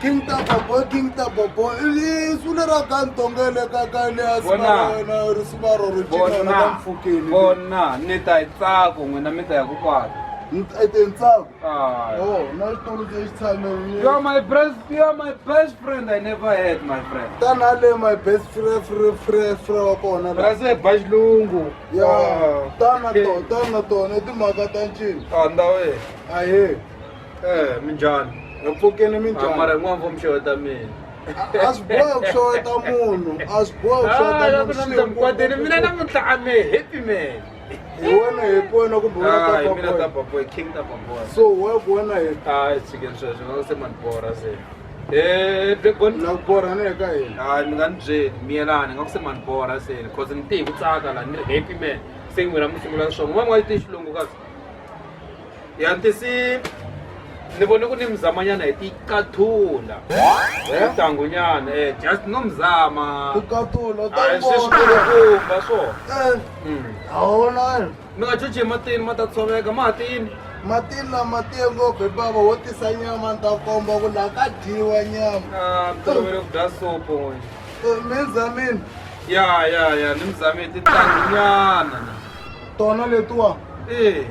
King Taba boy, King Taba boy. Ili suna ra ka ntongele ka ka le a sina Bona. wena ri sina ro ri chika na bona mfukeni. bona ni ta yi tsako n'wina mi ta ya ku kwala Ete ntsako. Ah. Oh, na xitulu ke xitshame. you are my best you are my best friend i never had my friend Tana le my best friend friend friend friend wa kona. la. rase ba xilungu Ya, tana to, tana to, ne timhaka ta ncini. anda we Ahe. Eh, minjhani nga pfukeni mi njhani mara n'wana va muxeweta mina a swi bohi ku xeweta munhu a swi bohi ku xeweta munhukwateni mina namuntlha a me happy man hi wena happy wena kumbe wena tapaboy king tapaboy so wa ku wena happy a hi tshikeni sweswo nga se manibora se eh, nakubora ni eka yena hayi mi nga ni byeli miyelani nga ku se manibora se cause ni te hi ku tsaka la ni ri happy man se n'wina mi sungula swona n'wana wa yi te xilungu kasi yantisi ni vone ku ni mzamanyana hi tikathula tangunyana e eh, just no mzama sweswikumba swona eh, hmm. awona mi nga cuci matini ma ta tshoveka matini matini lama tiye ngopfu hi bava wo tisa nyama ni ta komba ku laha ka dyiwa nyama ah, tolovele ku dya sopo eh, mi zamini ya ya ya ni mzamini titangunyana tona letiwa ee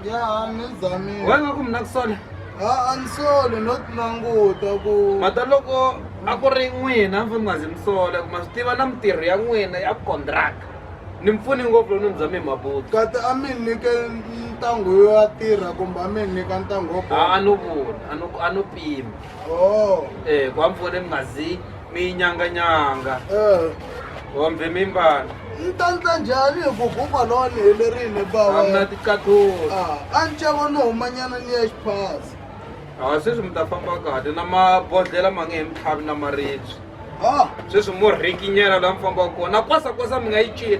ya a ni zamile wena nga ku mina ku sola a ni soli no ti languta ku mata loko a ku ri n'wina mfuni nga zi mi sola ku ma swi tiva na mitirho ya n'wina ya contract ni mpfuni ngopfu loko ni bya mi mabuti kati a mi nyike ntango yo ya tirha kumbe a mi nyika ntango wo a a no vula a no a no pima o um ku a mpfuni mi nga zi minyanganyanga Eh, hombe mimbana ni ta ndla njhani hi ku huma lowa ni helerile amna bawa tikathola Ah, a ni cava no humanyana ni ya xiphasi ha sweswi mi ta famba kahle na mabodhlela ma nge he mitlhavi na maribye Ah, sweswi mo rhikinyela laha mi fambaka kona na kwasakwasa mi nga yi cina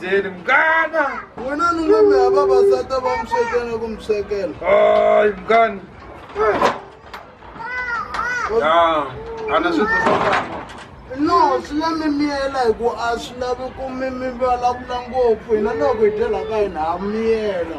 Jeni mngana. Wena ni nga mi hava vasata va mi swekela ku mi swekela. Hayi mngani. Ya, ana swi tisa no swi la mi miyela hi ku a swi lavi ku mi mi vulavula ngopfu hina loko hi dyela ka hina ha miyela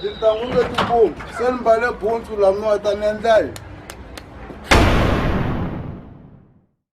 Tintangu letikulu se ni mbale butsu lamiwa ta ni endla yini?